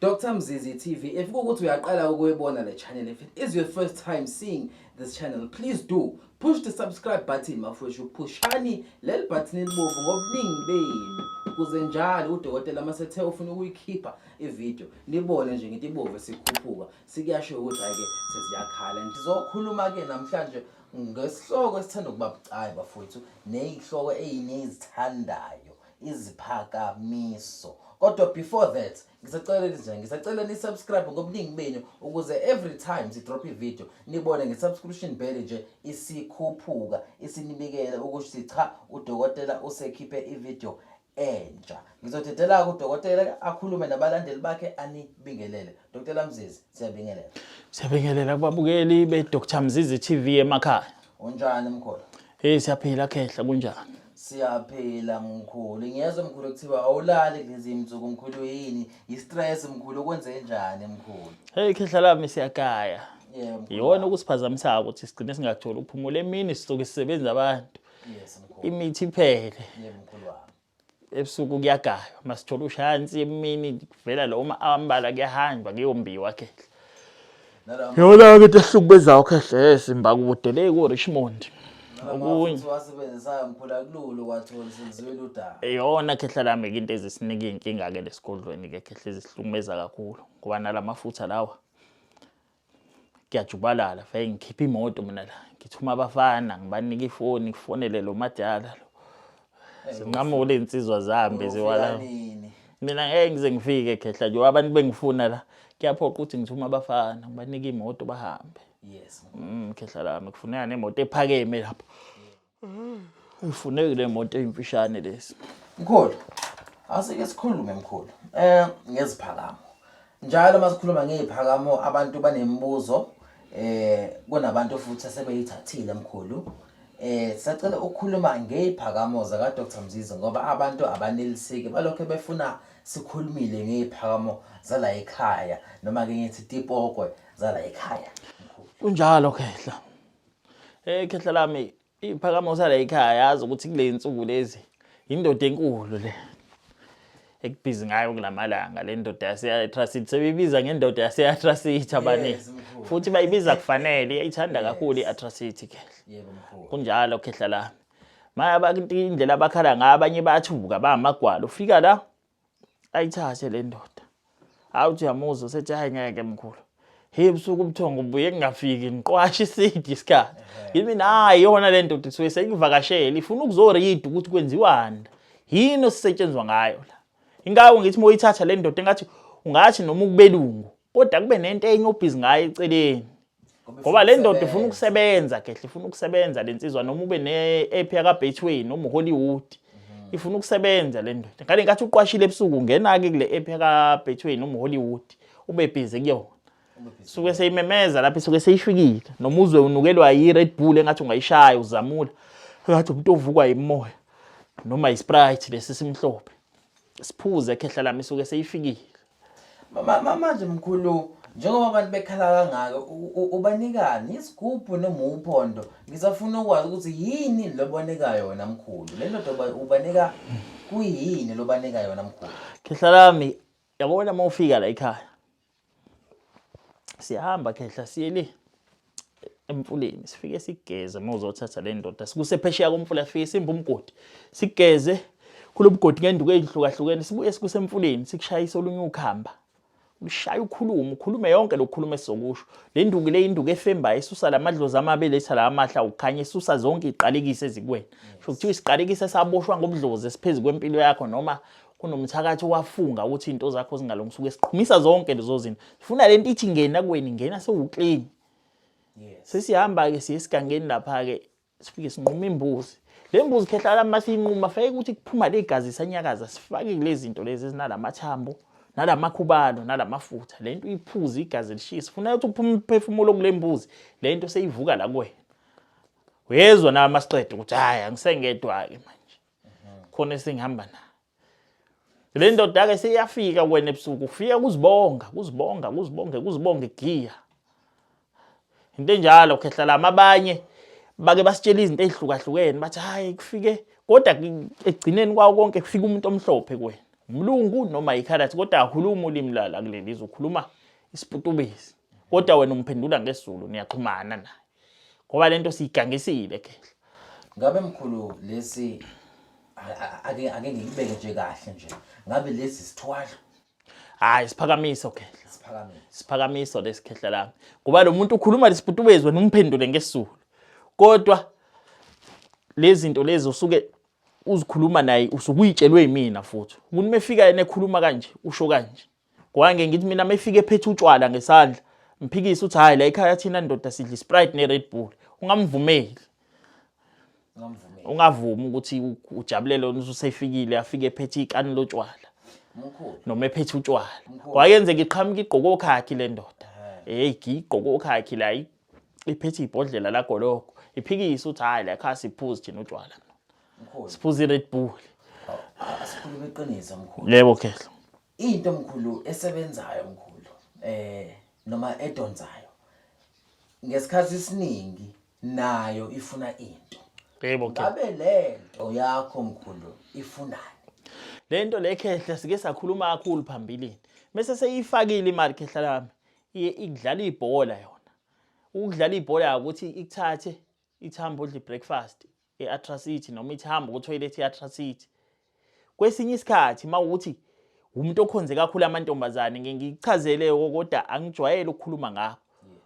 Dr Mzizi TV if kukuthi uyaqala ukuyibona le channel if it is your first time seeing this channel please do push the subscribe button mafwethu phushani leli button elibovu ngobuningi benu kuze njalo udokotela masethe ufuna ukuyikhipha ivideo nibone nje ngithi ibovu sikhuphuka sikuyasho ukuthi hayi ke sesiyakhala ngizokhuluma ke namhlanje ngesihloko esithanda ukuba bucayi bafowethu nezihloko ezinezithandayo iziphakamiso kodwa before that ngisaceleni nje ngisaceleni nisubscribe ngobuningi benu ukuze every time sidrop ivideo nibone nge-subscription bell nje isikhuphuka isinibikele ukuthi cha udokotela usekhiphe ivideo entsha ngizodedela kudokotela akhulume nabalandeli bakhe anibingelele dokotela mzizi siyabingelela siyabingelela kubabukeli be-dr mzizi tv emakhaya Unjani mkhulu? Hey siyaphila khehla kunjani? Siyaphila mkhulu. Ngiyezwa mkhulu kuthiwa awulali kulezi mzuku mkhulu yini? Yi-stress mkhulu kwenze njani mkhulu? Hey khehla lami siyagaya. Yeah mkhulu. Yona ukusiphazamisayo ukuthi sigcine singatholi ukuphumula emini sisuke sisebenza abantu. Yes mkhulu. Imithi iphele. Yeah mkhulu wami. ebusuku kuyagaywa masithola ushaya nsi emini kuvela lo uma ambala kuyahanjwa kuyombiwa khehla yona ke into ehlukubezayo khehla esimba kude le ku Richmond okunye wasebenzisayo ngiphula kululu kwathola senziwe ludaba eyona khehla lami into ezisinika inkinga ke lesigodlweni ke khehla ezisihlumeza kakhulu ngoba nalamafutha lawa ngiyajubalala vele ngikhipha imoto mina la ngithuma abafana ngibanika ifoni ngifonele lo madala lo zinqamule iy'nsizwa zihambe ziwala mina ngeke ngize ngifike khehla nje abantu bengifuna la kuyaphoqa ukuthi ngithuma abafana ngibanike imoto bahambe yes mm khehla lami kufuneka nemoto ephakeme lapho Ifuneki le moto eyimfishane lesi. Mkhulu, asike sikhulume mkhulu. Eh ngeziphakamo. Njalo masikhuluma ngeziphakamo abantu banemibuzo eh kunabantu futhi asebeyithathile mkhulu. Eh sacela ukukhuluma ngeziphakamo zaka Dr Mzizi ngoba abantu abaneliseki balokho befuna sikhulumile ngeziphakamo zala ekhaya noma ke ngithi tipokwe zala ekhaya. Kunjalo khehla. Eh khehla lami iphakama usala ekhaya yazi ukuthi kule nsuku lezi indoda enkulu le ekubhizi ngayo kulamalanga le ndoda yaseyatrasit sebeyibiza ngendoda yaseyatrasit abaningi futhi bayibiza kufanele iyayithanda kakhulu i-atrasit khehla kunjalo khehla lami maya indlela abakhala ngayo abanye bayathuka bamagwala ufika la ayithathe le ndoda hawu uthi uyamuzwa sethi hayi ngeke mkhulu hey busuku ubuthongo buye kungafiki ngiqwasha isidi isikhathi yimi nayi yona le ndoda isuke seyivakashela ifuna ukuzorida ukuthi kwenziwani yini osisetshenzwa ngayo la ingawo ngithi moyithatha le ndoda engathi ungathi noma ukubelungu kodwa kube nento enye obhizi ngayo eceleni ngoba le ndoda ifuna ukusebenza kehle ifuna ukusebenza le nsizwa noma ube ne-app yakabetway noma uhollywood mhm. ifuna ukusebenza le ndoda ngale nkathi uqwashile ebusuku ungena-ke kule app yakabetway noma uhollywood ube bhizi kuyona suke seyimemeza lapho isuke seyishwikile noma uzwe unukelwa yi-red bull engathi ungayishaya uzamula ngathi umuntu ovukwa yimoya noma yisprite lesi simhlophe siphuze ekhehla lami isuke seyifikile manje mkhulu njengoba abantu bekhala kangaka ubanikani isigubhu noma uphondo ngisafuna ukwazi ukuthi yini lobanika yona mkhulu le ndoda ubanika kuyini lobanika yona mkhulu khehla lami yabona uma ufika la ekhaya siyahamba khehla siye le emfuleni sifike sigeze uma uzothatha le ndoda sikusephesheya komfula sifike simba umgodi sigeze kulo mgodi ngenduku eyihlukahlukene sibuye sikusemfuleni sikushayisa olunye ukhamba ushaya ukhulume ukhulume yonke lokukhuluma esizokusho le nduku le induku efemba isusa lamadlozi amabele etha la amahla ukhanya isusa zonke iqalekise ezikwena sho kuthiwa isiqalekise saboshwa ngobudlozi esiphezulu kwempilo yakho noma kunomthakathi wafunga ukuthi into zakho zingalungi suke siqhumisa zonke lezo zinto sifuna lento ithi ngena kweni ngena sewuclean yes sesihamba ke siye sigangeni lapha ke sifike sinquma imbuzi le mbuzi khehlala uma siyinquma fake ukuthi kuphuma le gazi sanyakaza sifake kule zinto lezi ezinalamathambo nalamakhubalo nalamafutha le nto uyiphuze igazi lishisa sifuna ukuthi uphume umphefumulo kule mbuzi le nto seyivuka la kuwena uyezwa nawe masiqeda ukuthi hhayi angisengedwa-ke manje khona esingihamba naye le ndoda-ke seyafika wena ebusuku kufika kuzibonga kuzibonga kuzibonge kuzibonge giya into enjalo khehla lami abanye bake basitshela izinto ezihlukahlukene bathi hayi kufike kodwa ekugcineni kwawo konke kufika umuntu omhlophe kuwena umlungu noma yikhalathi kodwa akhuluma ulimi lala kuleli ukhuluma isiputubisi kodwa wena umphendula ngesizulu niyaxhumana naye ngoba lento siyigangisile kehla ngabe mkhulu lesi ake ake ngikubeke nje kahle nje ngabe lesi sithwalo hayi siphakamiso kehla siphakamiso siphakamiso lesikhehla lami ngoba lo muntu ukhuluma lesibhutubezwe nomphendule ngesulu kodwa lezinto lezi usuke uzikhuluma naye usukuyitshelwe yimina futhi umuntu mefika yena ekhuluma kanje usho kanje ngoba ngeke ngithi mina mefike ephethe utshwala ngesandla mphikise uthi hayi la ekhaya thina ndoda sidla isprite ne-red bull ungamvumeli ungavumi ukuthi ujabulele wena ususefikile afike ephethe ikani lotshwala noma ephethe utshwala kwayenzeka iqhamuka igqoke okhakhi le ndoda heyi eh. ngiyigqoke okhakhi la iphethe ibhodlela lagologo iphikise ukuthi hhayi la khaya siphuzi thina utshwala siphuza i-red bull asikhulume iqiniso mkhulu yebo khehla into mkhulu esebenzayo mkhulu eh noma edonsayo ngesikhathi isiningi nayo ifuna into yebo ke ngabe lento yakho mkhulu ifunani lento lekhehle sike sakhuluma kakhulu phambilini mase seyifakile imali khehla lami ikudlala ibhola yona ukudlala ibhola ukuthi ikuthathe ithambo odle breakfast i-atracity noma ithi hamba kuthoyilethi i-atracity kwesinye isikhathi uma ukuthi umuntu okhonze kakhulu amantombazane ngichazele kodwa angijwayele ukukhuluma ngakho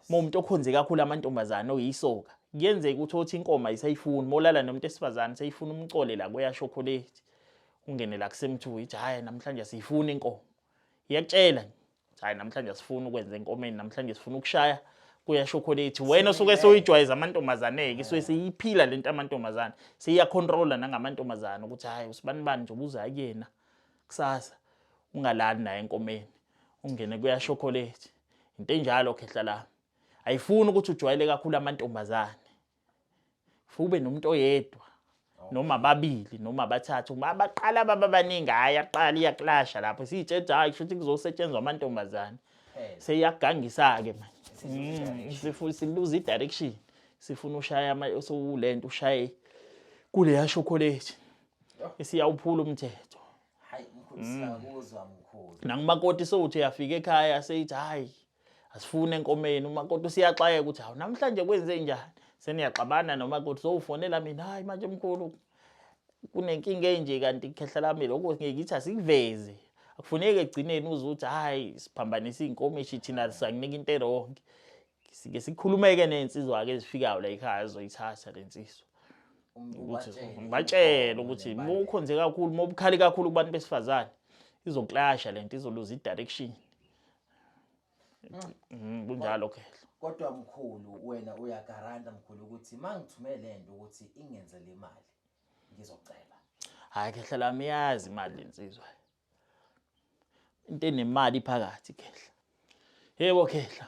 uma umuntu okhonze kakhulu amantombazane oyisoka kuyenzeka ukuthi othi inkoma isayifuni molala nomuntu esifazane seyifuna umcole la kweyashokholethi ungene la kusemthuku ithi hhayi namhlanje asiyifuni inkomo iyakutshela hayi namhlanje asifuni ukwenza enkomeni namhlanje sifuna ukushaya kuya shokolate wena osuke soyijwayeza amantombazane ke so siyiphila lento amantombazane siya controller nangamantombazane ukuthi hayi usibani bani nje ubuza kuyena kusasa ungalali naye enkomeni ungene kuya chocolate into enjalo khehla la ayifuni ukuthi ujwayele kakhulu amantombazane fube nomuntu oyedwa noma ababili noma abathathu abaqala baba baningi hayi aqala iyakulasha lapho siyitshetsha hayi kusho ukuthi kuzosetshenzwa amantombazane seyagangisa-ke manje mm, siluza i-direction sifuna ushaya sowule nto ushaye kuleya shokoleti esiyawuphula umthetho mm. nakumakoti sowuthi uyafika ekhaya seyithi hhayi asifuni enkomeni umakoti usiyaxakeka ukuthi hawu namhlanje kwenze njani seniyaxabana nomakoti sowufonela mina hayi manje mkhulu kunenkinga enje kanti khehla lami lokho ngeke ithi asikuveze akufuneki egcineni uze uthi hayi siphambanisa iy'nkomishi thina sanginika into erongi sike sikhulumeke ney'nsizwa-ke ezifikayo la ekhaya zizoyithatha le nsizwa ngibatshele ukuthi uma ukhonze kakhulu uma ubukhali kakhulu kubantu besifazane izoklasha le nto izoluza i-direction Mm, kunjalo ke kodwa mkhulu wena uyagaranta mkhulu ukuthi mangithume lento ukuthi ingenze le mali ngizocela hayi khehla lami yazi imali lensizwa into enemali phakathi khehla yebo khehla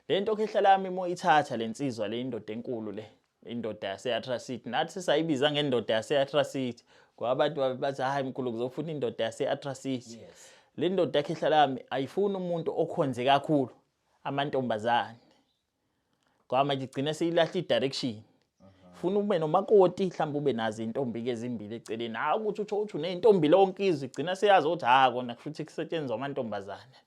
lento khehla lami moyithatha lensizwa le indoda enkulu le indoda yase-atrasiti nathi sayibiza ngendoda yase-atrasiti ngoba abantu babebathi hhayi mkhulu ngizofuna indoda yase-atrasiti yes. le ndoda yakhehla lami ayifuni umuntu okhonze kakhulu amantombazane ngoba manje igcine seyilahla i-direction funa ube nomakoti mhlawumbe ube nazo iy'ntombi-ke ezimbili eceleni hhayi ukuthi utho uthi uney'ntombi lonke izwe igcina seyazi ukuthi hha kona kusho ukuthi kusetshenzwa amantombazane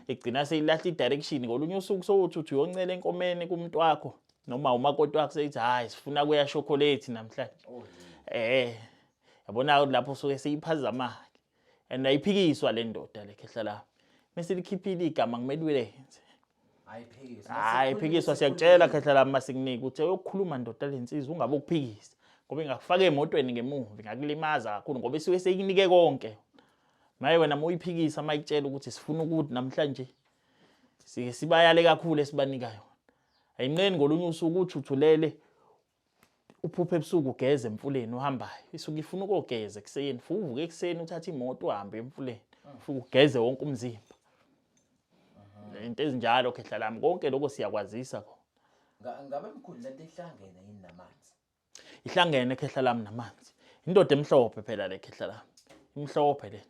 igcina seyilahla i-direction ngolunye usuku sowuthi uthi uyoncela enkomeni kumntu wakho noma umakoti wakho seyithi hayi sifuna kuya chocolate namhlanje oh, eh yabona lapho suke seyiphazama and ayiphikiswa le ndoda le khehla la mase likhiphile igama kumele ulenze ayiphikiswa hayi phikiswa siyakutshela khehla la masikunike uthe uyokhuluma ndoda lensizwa ungabe ukuphikisa ngoba ingakufaka emotweni ngemuva ngakulimaza kakhulu ngoba isuke seyikunike konke maye wena muyiphikisa mayitshela ukuthi sifuna ukuthi namhlanje sike sibayale kakhulu esibanikayo Ayinqeni ngolunye usuku utshuthulele uphuphe ebusuku ugeze emfuleni uhambayo isuke ifuna ukogeza ekuseni futhi uvuke ekuseni uthatha imoto uhambe emfuleni futhi ugeze wonke umzimba into ezinjalo khehla lami konke lokho siyakwazisa ko ngabe mkhulu lento ihlangene yini namanzi Ihlangene khehla lami namanzi. Indoda emhlophe phela le khehla lami. Imhlophe le.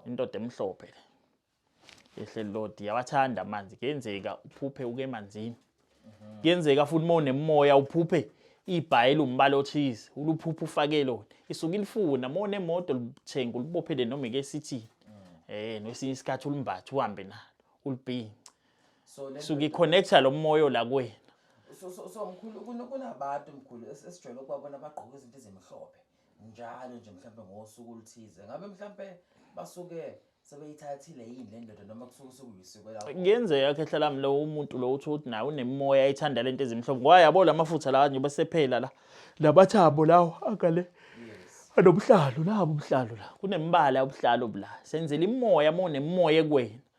Indoda emhlophe le. Ehle Lord, yawathanda amanzi. Kuyenzeka uphuphe uke emanzini. Kuyenzeka futhi uma unemoya uphuphe ibhayela umbala othize, uluphuphe ufake lona. Isuke ilifuna, uma unemoto lithenga ulibophele noma ike sithini. Eh, nesinye isikhathi ulimbathe uhambe nalo, ulibhince. so le suke iconnecta lo moyo la kuwena so so so mkhulu kuna- kunabantu mkhulu es- esijwayele ukubabona bagqoke izinto ezimhlophe njalo nje mhlawumbe ngosuku oluthize ngabe mhlawumbe basuke sebeyithathile yini le ndoda noma kusuke sekuyisiko lakho kuyenzeka khehla lami lo umuntu lo uthi ukuthi naye unemimoya ethanda lento ezimhlophe ngoba yabo la mafutha lawa nje besephela la lamathambo lawo akale yes anobuhlalu nabo ubuhlalu la kunemibala yobuhlalu bula senzela imoya uma unemimoya ekuwena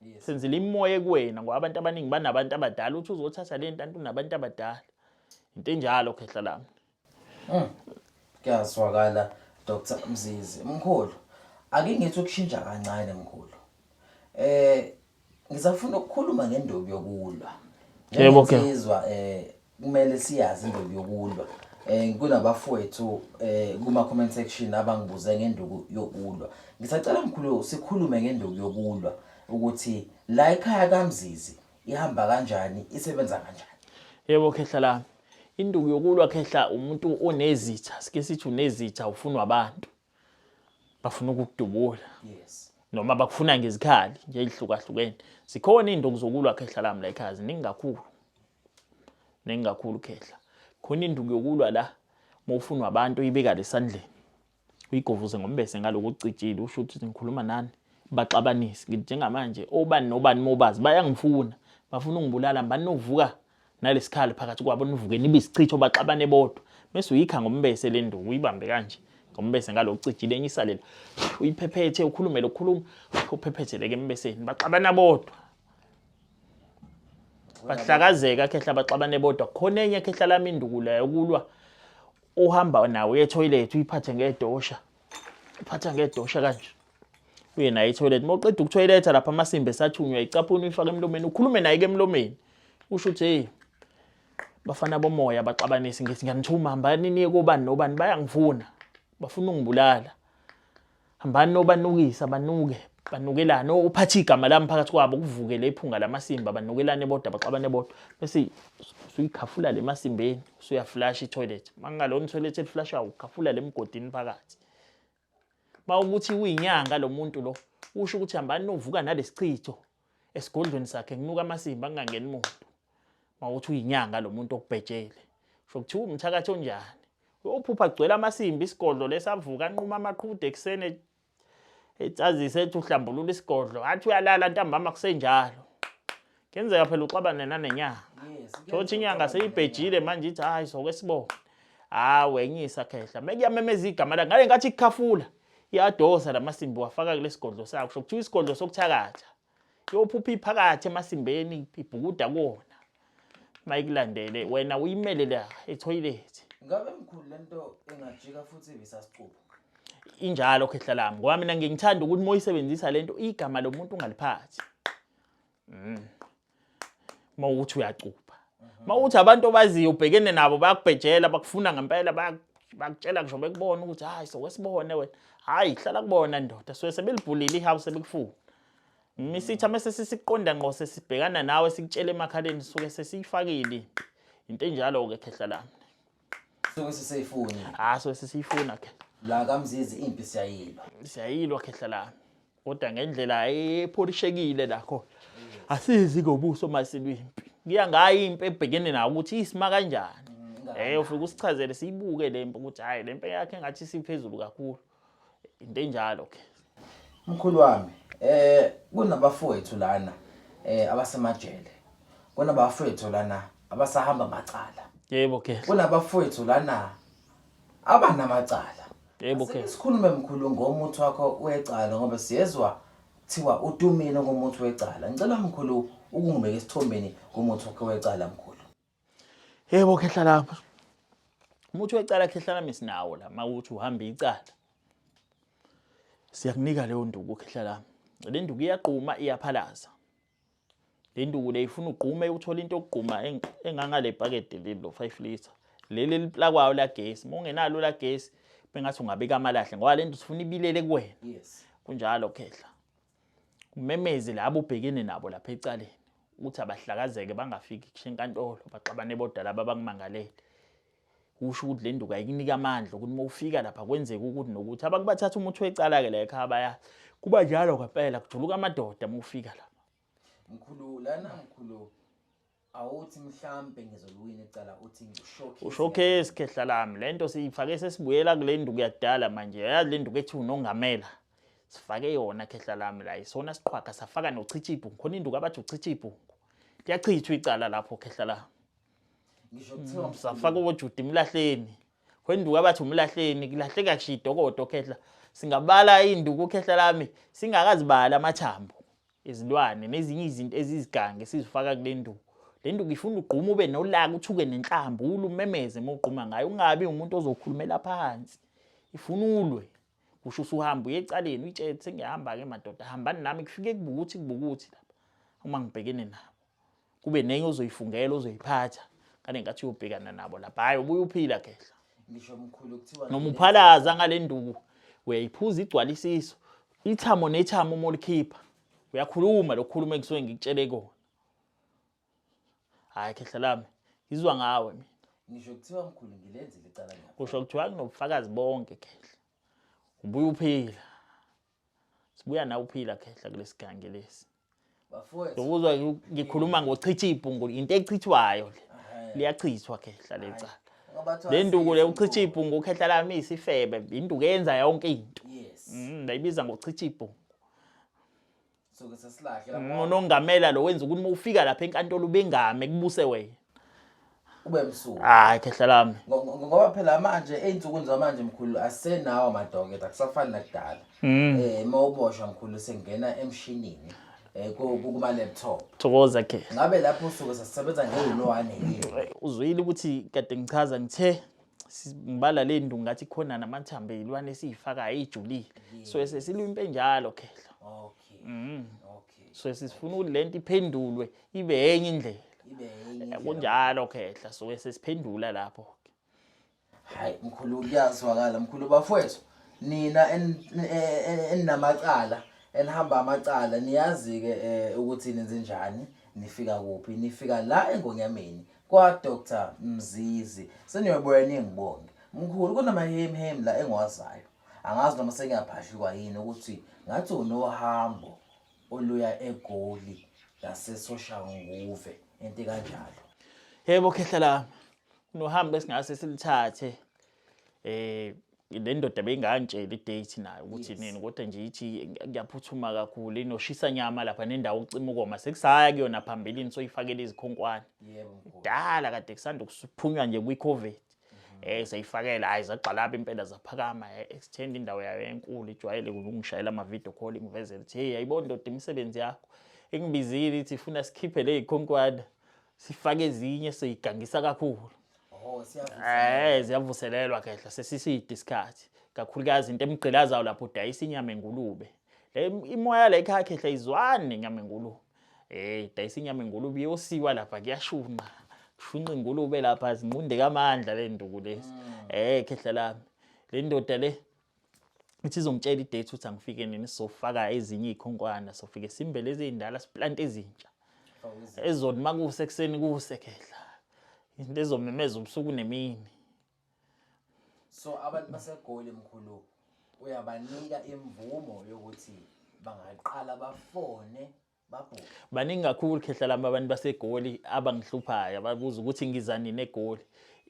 Yes. Senzile imoya kuwena ngoba abantu abaningi banabantu abadala uthi uzothatha le ntanto unabantu abadala. Into enjalo khehla lami. Mm. Kuyazwakala Dr Mzizi. Mkhulu, ake ngithi ukushintsha kancane mkhulu. Eh ngisafuna ukukhuluma ngendobi yokulwa. Yebo ke. Ngizwa eh kumele siyazi induku yokulwa um kunabafowethu um kuma-comment section abangibuze ngenduku yokulwa ngisacela mkhulu sikhulume ngenduku yokulwa ukuthi la ekhaya kamzizi ihamba kanjani isebenza kanjani yebo khehla lami induku yokulwa khehla umuntu onezitha sike sithi unezitha ufunwa abantu bafuna ukukudubula yes noma bakufuna ngezikhali nje ezihlukahlukene zikhona izinto kuzokulwa khehla lami la ekhaya ziningi kakhulu Ningi kakhulu khehla. Khona induku yokulwa la mawufunwa abantu uyibeka lesandleni. Uyigovuze ngombese ngaloku cijile usho ukuthi ngikhuluma nani. Baxabanise ngithi njengamanje obani nobani mobazi bayangifuna. Bafuna ungibulala mbani novuka nalesikhali phakathi kwabo nivuke nibe isichitho baxabane bodwa. Mese uyikha ngombese lenduku uyibambe kanje ngombese ngaloku cijile enye isalela. Uyiphephethe ukhulume lokukhuluma uphephetheleke embeseni baxabana bodwa. bahlakazeka khehla baxabane bodwa khona enye khehla lami indukula yokulwa uhamba nawo yetoilet uyiphathe ngedosha uphatha ngedosha kanje uye naye etoilet uma uqeda ukutoiletha lapha amasimba esathunywa icaphuni uyifake emlomeni ukhulume naye ke emlomeni usho ukuthi hey bafana bomoya baxabanisi ngithi ngiyanithuma hambani niye kobani nobani bayangifuna bafuna ungibulala Hambani nobanukisa banuke banukelane uphathe igama lami phakathi kwabo kuvuke le phunga lamasimba banukelane bodwa baxabane bodwa bese usuyikhafula le masimbeni usuyaflasha itoilet mangalona itoilet eliflashayo ukhafula le mgodini phakathi mawukuthi uyinyanga lo muntu lo usho ukuthi hambani novuka nalesichitho esigodlweni sakhe kunuka amasimba kungangeni muntu mawuthi uyinyanga lo muntu okubhejele sho kuthiwa umthakathi onjani uyophupha kugcwele amasimba isigodlo lesavuka anquma amaqhude ekuseni etsazise ethi uhlambulula isigodlo athi uyalala ntambama kusenjalo kenzeka phela uxabane nanenyanga thothi inyanga seyibhejile manje ithi hayi soke sibone hawu wenyisa khehla mekuyamemeza igama lakhe ngale ngathi ikhafula Iyadosa lamasimbi wafaka kulesigodlo sakho kusho kuthiwa isigodlo sokuthakatha. Yophupha iphakathi emasimbeni ibhukuda kuwona. Mayikulandele wena uyimele la etoilet. Ngabe mkhulu lento ingajika futhi ibisasicubu. Injalo khehla lami ngoba mina ngingithanda ukuthi moyisebenzisa lento igama lomuntu ungaliphathi. mm. uma uthi uyacupha uma uthi abantu obaziyo ubhekene nabo bayakubhejela bakufuna ngempela bakutshela ngisho bekubona ukuthi hayi sokwesibone wena hayi hlala kubona ndoda suke sebelibhulile ihouse sebekufuna misitha mese sisiqonda ngqo sesibhekana nawe sikutshele emakhaleni suke sesiyifakile into enjalo-ke khehla lami Suke siseyifuna. Hayi so sisiyifuna ke. La kamzizi impi siyayilwa. Siyayilwa khehla lami. Kodwa ngendlela epholishekile la khona. Asizi ngobuso masilwimpi. Kuya ngayo impi ebhekene nawo ukuthi isima kanjani. Eh ufike usichazele siyibuke lempi ukuthi hayi lempi yakhe ngathi siphezulu kakhulu. into enjalo ke mkhulu wami eh kunabafowethu lana eh abasemajele kunabafowethu lana abasahamba macala yebo ke kunabafowethu lana abanamacala yebo ke sikhulume mkhulu ngomuthi wakho wecala ngoba siyezwa thiwa utumile ngomuthi wecala ngicela mkhulu ukungibeka esithombeni ngomuthi wakho wecala mkhulu Yebo khehla lapha. Umuthi wecala khehla lami sinawo la mawuthi uhamba icala. Siyakunika leyo nduku khehla lami. Le nduku iyaqhuma iyaphalaza. Le nduku le ifuna ugqume uthola into yokugquma engangale pakede leli lo 5 liter. Leli liplakwayo la gesi. Uma ungenalo la gesi bengathi ungabeka amalahle ngoba le nto sifuna ibilele kuwena. Yes. Kunjalo khehla. Umemeze labo ubhekene nabo lapha ecaleni ukuthi abahlakazeke bangafiki kusho enkantolo baxabane bodwa laba abakumangalele usho ukuthi le nduku ayikunika amandla ukuthi uma ufika lapha kwenzeka ukuthi nokuthi abantu bathatha umuthi wecala-ke la ekhaya baya kuba njalo ngempela kujuluka amadoda uma ufika lapha mkhulu lana mkhulu awuthi mhlambe ngizoliwina icala uthi ngishowcase ushowcase khehla lami lento siyifake sesibuyela kule nduku yakudala manje yazi le nduku ethi unongamela sifake yona khehla lami la isona siqhwaga safaka nochicha ibhungu khona induku abathi uchicha ibhungu liyachithwa icala lapho khehla lami ngisho kuthiwa mm, safaka ojuda imlahleni khona induku abathi umlahleni kulahleka kushidokodo khehla singabala induku khehla lami singakazibala amathambo izilwane nezinye izinto ezizigange esizifaka kule nduku le nduku ifuna ugqume ube nolaka uthuke nenhlamba ule umemeze uma ugquma ngayo ungabi umuntu ozokhulumela phansi ifuna ulwe kusho usuhamba uye ecaleni uyitshele sengiyahamba-ke madoda hambani nami kufike kubukuthi kubukuthi lapha uma ngibhekene nabo kube nenye ozoyifungela ozoyiphatha kane ngathi uyobhekana nabo lapha hayi ubuye uphila khehla ngisho mkhulu kuthiwa noma uphalaza ngale nduku uyayiphuza igcwalisiso ithamo nethamo uma ulikhipha uyakhuluma lokukhuluma engisuke ngikutshele kona hayi khehla lami ngizwa ngawe mina ngisho kuthiwa mkhulu ngilenzile icala kusho kuthiwa kunobufakazi bonke khehla ubuye uphila Sibuya nawe uphila khehla kulesigange lesi. Bafowethu. Ukuzwa ngikhuluma ngochitha ibhungu into echithwayo le. Liyachithwa khehla lecala. Le nduku le uchitha ibhungu khehla lami isifebe induku yenza yonke into. Yes. Mm, bayibiza ngochitha ibhungu. unongamela lo wenza ukuthi uma ufika lapha enkantolo ubengame kubuse wena kube msuku hayi khehla lami ngoba phela manje ezinsukwini zamanje mkhulu asenawo amadoketa kusafani nakudala mm. eh mawuboshwa mkhulu sengena emshinini eh, kuma laptop thokoza ke ngabe lapho usuke sasebenza ngeyilwane yini uzwile ukuthi kade ngichaza ngithe sibala le ndungu ngathi khona namathambo eyilwane esiyifakayo ijulile so sesilwimpe njalo khehla okay mm. okay so sifuna ukuthi lento iphendulwe ibe enye indlela ibe enye eh, kunjalo khehla so sesiphendula lapho hayi mkhulu kuyazwakala mkhulu bafowethu nina eninamacala enihamba amacala niyazi ke eh, ukuthi nenze njani nifika kuphi nifika la engonyameni Kwa Dr Mzizi seniyobuya ningibonge. Mkhulu kunama hemi hemi la engiwazayo. Angazi noma sengiyaphahlikwa yini ukuthi ngathi unohambo oluya eGoli ngasesoshanguve into kanjalo. Yebo khehla la. Nohambo esingase silithathe. eh le ndoda beyingangitshela idate nayo ukuthi yes. nini kodwa nje ithi ngiyaphuthuma kakhulu inoshisa nyama lapha nendawo ucima ukoma sekusaya kuyona phambilini soyifakela izikhonkwane kudala kade kusanda kusiphunywa nje kwi-covid mhm. eh seyifakela hayi zagxalaba impela zaphakama eh, extend indawo yayo enkulu ijwayele ukungishayela ama video call ingivezela ukuthi hey ayibona ndoda imisebenzi yakho ingibizile ithi funa sikhiphe le ikhonkwana sifake ezinye seyigangisa kakhulu Oh siyavuselelwa. Eh siyavuselelwa khehla sesiside isikhathi. Kakhulukazi into emgqilazayo lapho udayisa inyama engulube. Le imoya la ekhaya khehla izwani nenyama engulube. Eh dayisa inyama engulube iyosiwa lapha kuyashunqa. Kushunqa ingulube lapha zinqunde kamandla le nduku lezi. Mm. Eh khehla lami. Le ndoda le ithi izongitshela idate ukuthi angifike nini sizofaka ezinye iy'khonkwana sofike simbe lezi ey'ndala siplante ezintsha ezoni uma kuse ekuseni kuse khehla into ezomemeza ubusuku nemini so abantu basegoli mkhulu uyabanika imvumo yokuthi bangaqala bafone baningi kakhulu khehla lami abantu basegoli abangihluphayo ababuza ukuthi ngiza nini egoli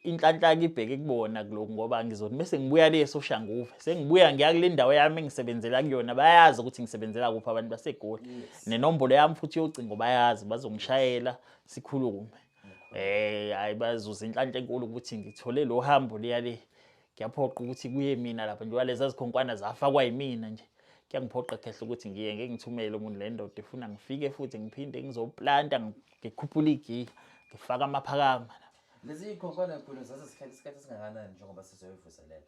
inhlanhlaka ibheke kubona kulokhu ngoba ngizothi bese ngibuya le soshanguve sengibuya ngiya kule ndawo yami engisebenzela kuyona bayazi ukuthi ngisebenzela kuphi abantu basegoli nenombolo yami futhi yocingo bayazi bazongishayela sikhulume eh hayi bazuza inhlanhla enkulu ukuthi ngithole lo hambo liya le Kuyaphoqa ukuthi kuye mina lapha njengoba leza zikhonkwana zafakwa yimina nje. Kuyangiphoqa khehla ukuthi ngiye ngeke ngithumele umuntu le ndoda ifuna ngifike futhi ngiphinde ngizoplanta ngikhuphule igiya ngifake amaphakama. Lezi zikhonkwana enkulu zaze sihlale isikhathi esingakanani njengoba sizoyivuselela?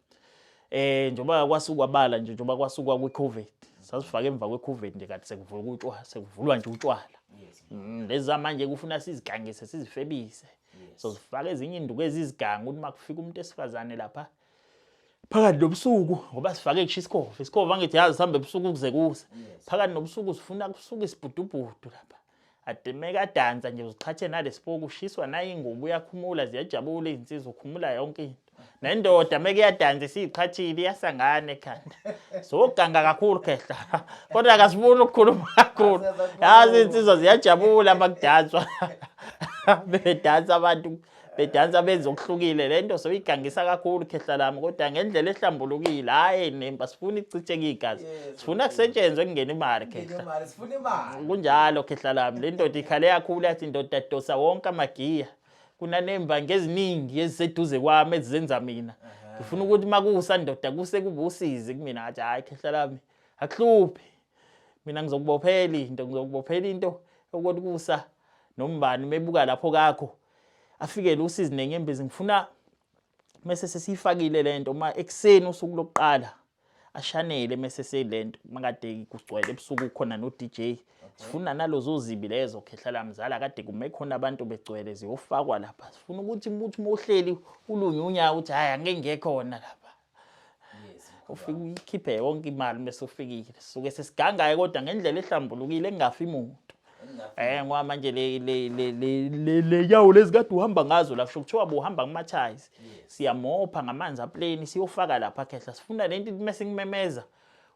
Eh njengoba kwasukwa bala nje njengoba kwasukwa kwiCovid sasifaka emva kweCovid nje kanti sekuvulwa utshwala sekuvulwa nje utshwala. Yes. Mm, lezi zamanje kufuna sizigangise sizifebise. yes. so sifake ezinye induku ezizigangu ukuthi makufika umuntu esifazane lapha phakathi nobusuku ngoba sifake kusho isikhova isikhova angithi yazi sihambe ebusuku kuze kuse phakathi nobusuku sifuna kusuke isibhudubhudu lapha adimeka adansa nje uziqhathe nalesipoku ushiswa nayo ingubo uyakhumula ziyajabula izinsizwa ukhumula yonke into nendoda meke yadansa isiyiqhathile iyasangana ekhanda soganga kakhulu khehla kodwa akasifuni ukukhuluma kakhulu yazi insizwa ziyajabula uma kudanswa bedansa abantu bedansa benza okuhlukile le nto soyigangisa kakhulu khehla lami kodwa ngendlela ehlambulukile hhayi nemba sifuna icitsheke igazi sifuna kusetshenzwe kungena imali khehla kunjalo khehla lami le ndoda ikhale kakhulu yathi indoda dosa wonke amagiya kunaneembangi eziningi eziseduze kwami ezizenza mina ngifuna ukuthi uma kusa ndoda kuse kube usizi kumina ngathi hhayi khehla lami akuhluphi mina ngizokubophela into ngizokubophela into ukuthi kusa nombani mebuka lapho kakho afikele usizi nenyembezi ngifuna mese sesiyifakile lento uma ekuseni usuku lokuqala ashanele mese selento makade kugcwele ebusuku khona no DJ sifuna nalozo zibi lezo khehla la mzala kade kume khona abantu begcwele ziyofakwa lapha sifuna ukuthi umuntu uma uhleli ulunyunya ukuthi hayi angeke ngekhona lapha ufike uyikhiphe yonke imali bese ufikile suke sesigangaye kodwa ngendlela ehlambulukile engafi muntu eh ngoba manje le le le le le yawo lezikade uhamba ngazo la kusho kuthiwa buhamba kumathayizi siyamopha ngamanzi apleni siyofaka lapha khehla sifuna lento mase ngimemeza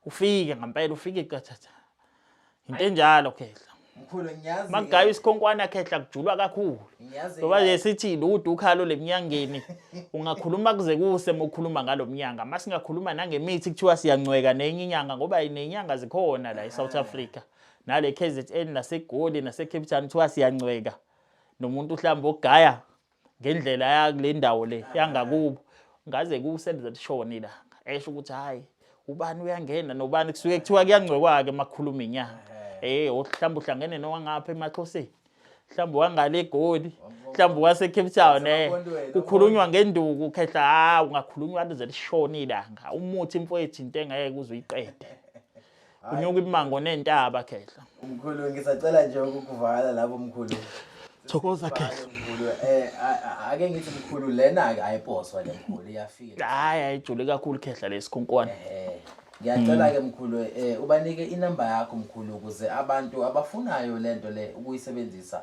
ufike ngempela ufike qathatha into enjalo khehla mkhulu ngiyazi magayo isikhonkwana khehla kujulwa kakhulu ngoba nje sithi ludu ukhalo lemnyangeni ungakhuluma kuze kuse mokhuluma ngalomnyanga masingakhuluma nangemithi kuthiwa siyancweka nenye inyanga ngoba inenyanga zikhona la eSouth ah. Africa nale KZN naseGoli naseCape Town kuthiwa siyancweka nomuntu uhlamba ogaya ngendlela yakule ndawo le yangakubo ngaze kusenze lishoni la esho ukuthi hayi ubani uyangena nobani kusuke kuthiwa kuyangcwekwake makhuluma inyanga eh mhlawumbe uhlangene nowangapha emaxhoseni mhlawumbe wangale egoli mhlawumbe wase Cape Town eh kukhulunywa ngenduku khehla ha ungakhulunywa lize lishone ilanga umuthi imfowethu into engeke uzuyiqede Unyuka imango nentaba khehla. Mkhulu ngisacela nje ukukuvala lapho mkhulu. Thokoza khehla. Mkhulu eh ake ngithi mkhulu lena ayiposwa le mkhulu iyafika. Hayi ayijule kakhulu khehla lesikhonkwane. Eh. Ngiyacela ke mkhulu eh ubanike inamba yakho mkhulu ukuze abantu abafunayo lento le ukuyisebenzisa